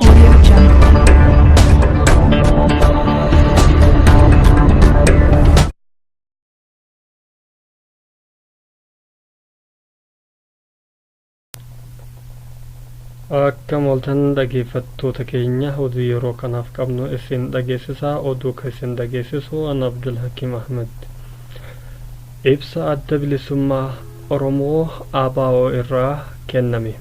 Audio Jungle. Akka mooltan dhageeffattoota keenya oduu yeroo kanaaf qabnu isin dhageessisaa oduu kan isin dhageessisu an Abdul Hakim Ahmed. Ibsa Adda Bilisummaa Oromoo, ABO, irraa kenname.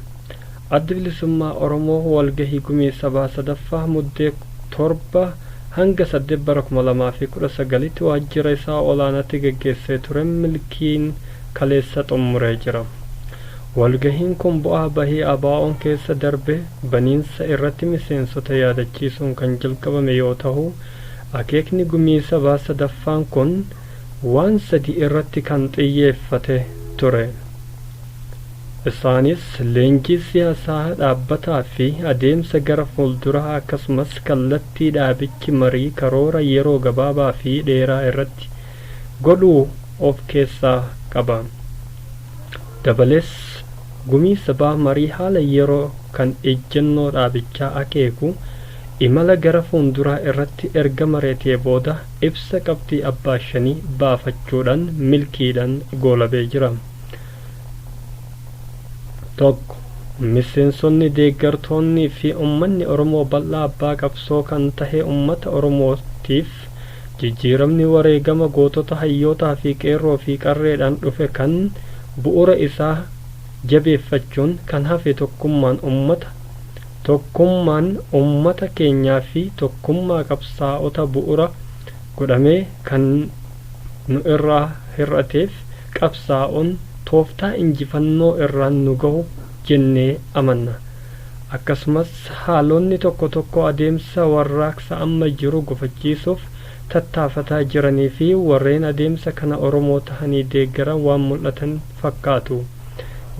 Addi Bilisummaa Oromoo walgahii Gumii Sabaa 3ffaa Muddee 7-8 bara 2019tti waajjira isaa olaanaatti geggeessee turen milkiin kaleessa xummuree jira. Walgahiin kun bu'aa bahii ABOn keessa darbe baniinsa irratti miseensota yaadachiisuun kan jalqabame yoo tahu, akeekni Gumii Sabaa 3ffaan kun, waan sadii irratti kan xiyyeeffate ture. Isaanis, leenjii siyaasaa dhaabbataa fi adeemsa gara fuulduraa akkasumas kallattii dhaabichi marii karoora yeroo gabaabaa fi dheeraa irratti godhu of keessaa qaba. Dabalees, Gumii Sabaa marii haala yeroo kan ejjennoo dhaabichaa akeeku, imala gara fuulduraa irratti erga mari'atee booda, Ibsa qabxii abbaa shanii baafachuudhaan milkiidhaan goolabee jira. 1. Miseensonni, deeggartoonnii fi ummanni Oromoo bal'aa abbaa qabsoo kan tahe ummata Oromootiif jijjiiramni wareegama gootota hayyootaa fi qeerroo fi qarreedhaan dhufe kan bu'uura isaa jabeeffachuun kan hafe tokkummaan ummata Tokkummaan ummata keenyaa fi tokkummaa qabsaa'ota bu'ura godhamee kan nu irraa hir'ateef qabsaa'uun tooftaa injifannoo irraan nu gahu jennee amanna. Akkasumas haalonni tokko tokko adeemsa warraaqsa amma jiru gufachiisuuf tattaafataa jiranii fi warreen adeemsa kana Oromoo tahanii deeggaran waan mul'atan fakkaatu.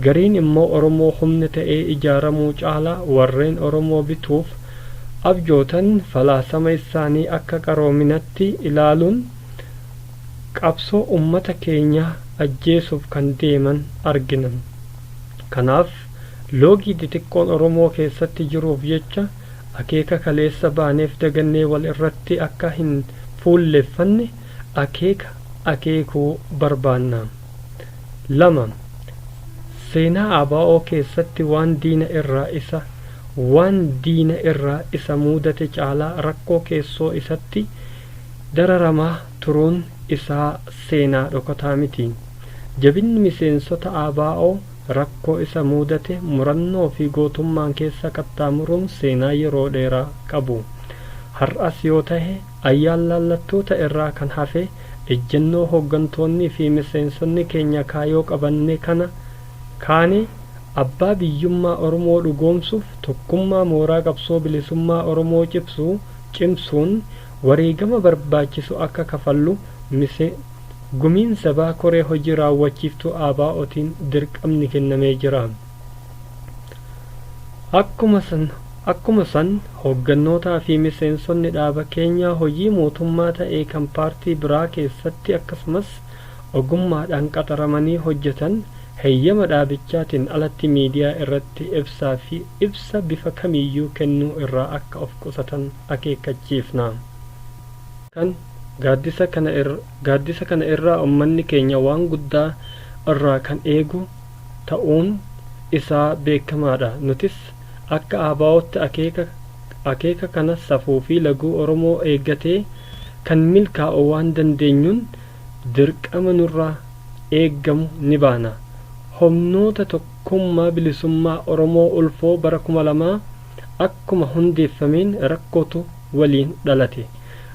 Gariin immoo Oromoo humna ta'ee ijaaramuu caalaa warreen Oromoo bituuf abjootan falaasama issaanii akka qaroominatti ilaaluun qabsoo ummata keenyaa ajjeesuuf kan deeman argina. Kanaaf loogii xixiqqoon Oromoo keessatti jiruuf jecha akeeka kaleessa baaneef dagannee wal irratti akka hin fuulleffanne akeeka akeekuu barbaanna. 2. Seenaa ABO keessatti waan diina irraa isa waan diina irraa isa muudate caalaa rakkoo keessoo isatti dararamaa turuun isaa seenaa dhokataa miti. Jabinni miseensota ABO rakkoo isa muudate murannoo fi gootummaan keessa qaxxaamuruun seenaa yeroo dheeraa qabu. Har'as yoo tahe Ayyaanlaallattoota irraa kan hafe ejjennoo hoggantoonnii fi miseensonni keenya kaayoo qabanne kana kaane abbaa biyyummaa Oromoo dhugoomsuuf tokkummaa mooraa qabsoo bilisummaa Oromoo cibsu cimsuun wareegama barbaachisu akka kafallu mise Gumiin Sabaa Koree Hojii Raawwachiiftuu ABOtiin dirqamni kennamee jira. Akkuma san, akkuma san hooggannootaa fi miseensonni dhaaba keenyaa hojii mootummaa ta'ee kan paartii biraa keessatti akkasumas ogummaadhaan qaxaramanii hojjetan heyyama dhaabichaatiin alatti miidiyaa irratti ibsaa fi ibsa bifa kamiiyyuu kennuu irraa akka of qusatan akeekkachiifna. Kan gaaddisa kana irra, gaaddisa kana irraa ummanni keenya waan guddaa irraa kan eegu, ta'uun isaa beekamaadha. Nutis akka ABOtti akeeka akeeka kana safuu fi laguu Oromoo eeggatee kan milkaa'u waan dandeenyuun dirqama nurraa eegamu ni baana. Homnoota Tokkummaa Bilisummaa Oromoo ulfoo bara 2000 akkuma hundeeffameen rakkootu waliin dhalate.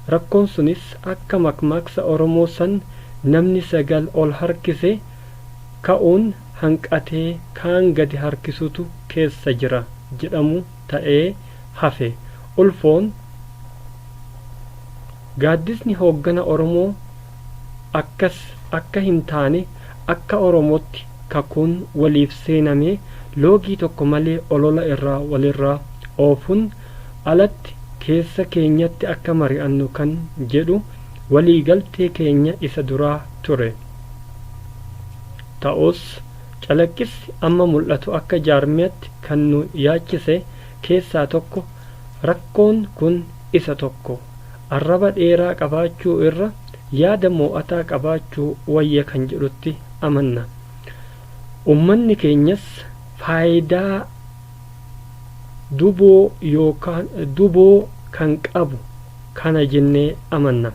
Rakkoon sunis akka makmaaksa Oromoo san namni sagal ol harkise ka'uun hanqatee kaan gadi harkisutu keessa jira jedhamu ta'ee hafe. Ulfoon, Gaaddisni hooggana Oromoo akkas akka hin taane akka Oromootti kakuun waliif seenamee loogii tokko malee olola irraa walirraa oofuun alatti keessa keenyatti akka mari'annu kan jedhu waliigaltee keenya isa duraa ture. Ta'us, calaqqissi amma mul'atu akka jaarmiyatti kan nu yaachise keessaa tokko rakkoon kun isa tokko. Arraba dheeraa qabaachuu irra yaada moo'ataa qabaachuu wayya kan jedhutti amanna. Ummanni keenyas faayidaa. duboo yookaan duboo kan qabu kana jennee amanna.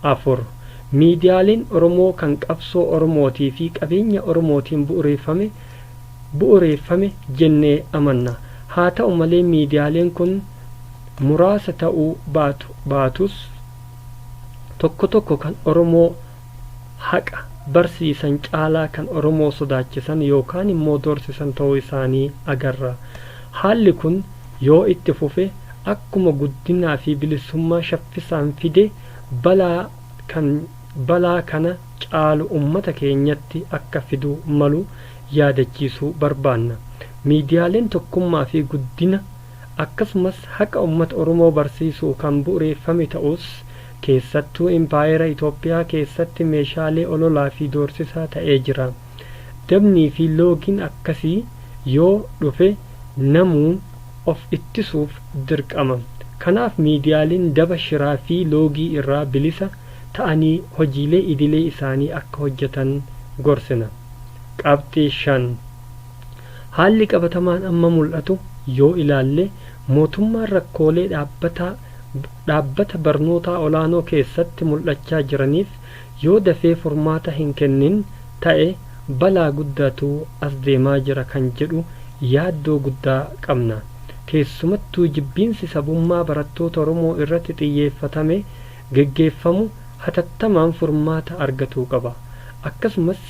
4, Miidiyaaleen Oromoo kan qabsoo Oromootii fi qabeenya Oromootiin bu'ureeffame bu'ureeffame jennee amanna. Haa ta'u malee miidiyaaleen kun muraasa ta'uu baatu baatus tokko tokko kan Oromoo haqa barsiisan caalaa kan Oromoo sodaachisan yookaan immoo doorsisan ta'uu isaanii agarra. Haalli kun yoo itti fufe akkuma guddinaa fi bilisummaa shaffisaan fide balaa kan balaa kana caalu uummata keenyatti akka fiduu malu yaadachiisuu barbaanna. Miidiyaaleen tokkummaa fi guddina akkasumas haqa uummata Oromoo barsiisuu kan bu'ureeffame ta'us, Keessattuu Impaayera Itoophiyaa keessatti meeshaalee ololaa fi doorsisaa ta'ee jira. Dabnii fi loogiin akkasii yoo dhufe namuu of ittisuuf dirqama. Kanaaf miidiyaaleen daba shiraa fi loogii irraa bilisa ta'anii hojiilee idilee isaanii akka hojjetan gorsina. Qabxii 5. Haalli qabatamaan amma mul'atu yoo ilaalle mootummaan rakkoolee dhaabbataa dhaabbata barnootaa olaanoo keessatti mul'achaa jiraniif yoo dafee furmaata hin kennin ta'e balaa guddaatu as deemaa jira kan jedhu yaaddoo guddaa qabna. Keessumattuu jibbiinsi sabummaa barattoota Oromoo irratti xiyyeeffatame geggeeffamu hatattamaan furmaata argatuu qaba. Akkasumas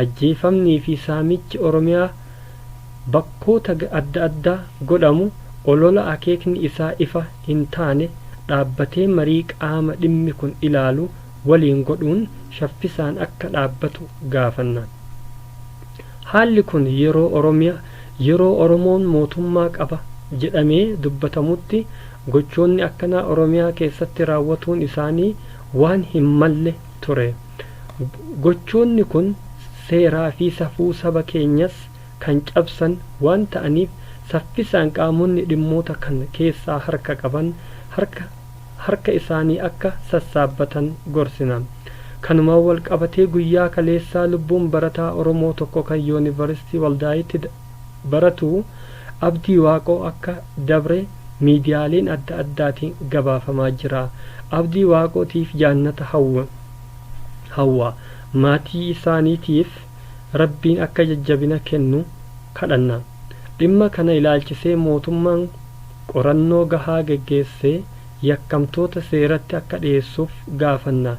ajjeefamnii fi saamichi Oromiyaa. Bakkoota adda addaa godhamu olola akeekni isaa ifa hin taane dhaabbatee marii qaama dhimmi kun ilaalu waliin godhuun shaffisaan akka dhaabbatu gaafanna. Haalli kun yeroo Oromia, yeroo Oromoon mootummaa qaba jedhamee dubbatamutti gochoonni akkanaa Oromiyaa keessatti raawwatuun isaanii waan hin malle ture. Gochoonni kun seeraa fi safuu saba keenyas kan cabsan waan ta'aniif saffisaan qaamonni dhimmoota kan keessaa harka qaban harka harka isaanii akka sassaabbatan gorsina. Kanumaan wal qabatee guyyaa kaleessaa lubbuun barataa Oromoo tokko kan Yoonivaristii Waldaayitti baratu Abdii Waaqoo akka dabre miidiyaaleen adda addaatiin gabaafamaa jira. Abdii Waaqootiif jaannata hawwa. Maatii isaaniitiif. Rabbiin akka jajjabina kennu kadhanna. Dhimma kana ilaalchisee mootummaan qorannoo gahaa geggeessee yakkamtoota seeratti akka dhiyeessuuf gaafanna.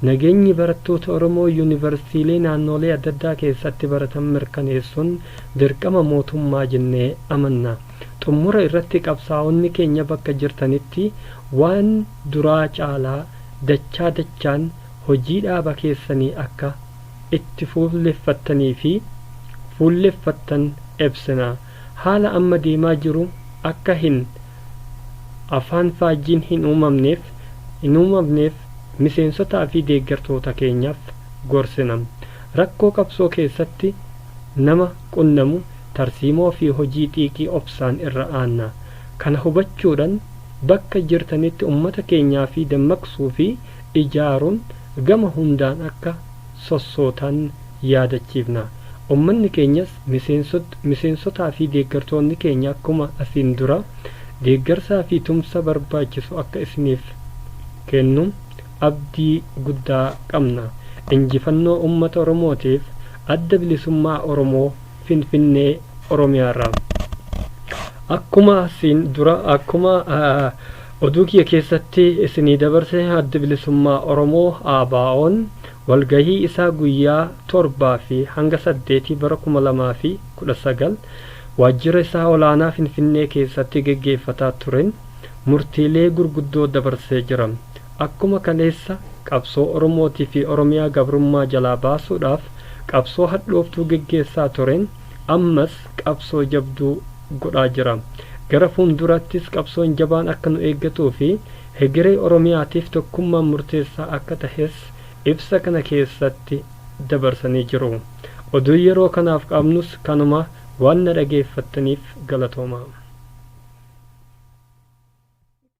Nageenyi barattoota Oromoo Yuunivarsiitiilee naannoolee adda addaa keessatti baratan mirkaneessuun dirqama mootummaa jennee amanna. Xummura irratti qabsaa'onni keenya bakka jirtanitti waan duraa caalaa dachaa dachaan hojii dhaaba keessanii akka itti fuulleffattanii fi fuulleffattan ebsina. Haala amma deemaa jiru akka hin afaan faajjiin hin uumamneef hin uumamneef miseensotaa fi deeggartoota keenyaaf gorsina. Rakkoo qabsoo keessatti nama qunnamu tarsiimoo fi hojii xiiqii obsaan irra aanna. Kana hubachuudhan bakka jirtanitti ummata keenyaa fi dammaqsuu fi ijaaruun gama hundaan akka sossootan yaadachiifna. Ummanni keenyas miseensotaa fi deeggartoonni keenya akkuma asiin dura deeggarsaa fi tumsa barbaachisu akka isiniif kennu abdii guddaa qabna. Injifannoo Ummata Oromootiif Adda Bilisummaa Oromoo Finfinnee Oromiyaarraa. Akkuma asiin dura akkuma Oduu kiyya keessatti isinii dabarse Addi Bilisummaa Oromoo, ABOn, walgahii isaa guyyaa 7 fi hanga 8 bara 2019 waajjira isaa olaanaa Finfinnee keessatti geggeeffataa turen murtiilee gurguddoo dabarsee jira. Akkuma kaleessa qabsoo Oromootii fi Oromiyaa gabrummaa jalaa baasuudhaaf qabsoo hadhooftuu geggeessaa turen, ammas qabsoo jabduu godhaa jira. Gara fuulduraattis qabsoon jabaan akka nu eeggatuu fi hegeree Oromiyaatiif tokkummaan murteessaa akka tahes ibsa kana keessatti dabarsanii jiru. Oduun yeroo kanaaf qabnus kanuma, waan na dhageeffattaniif galatoomaa.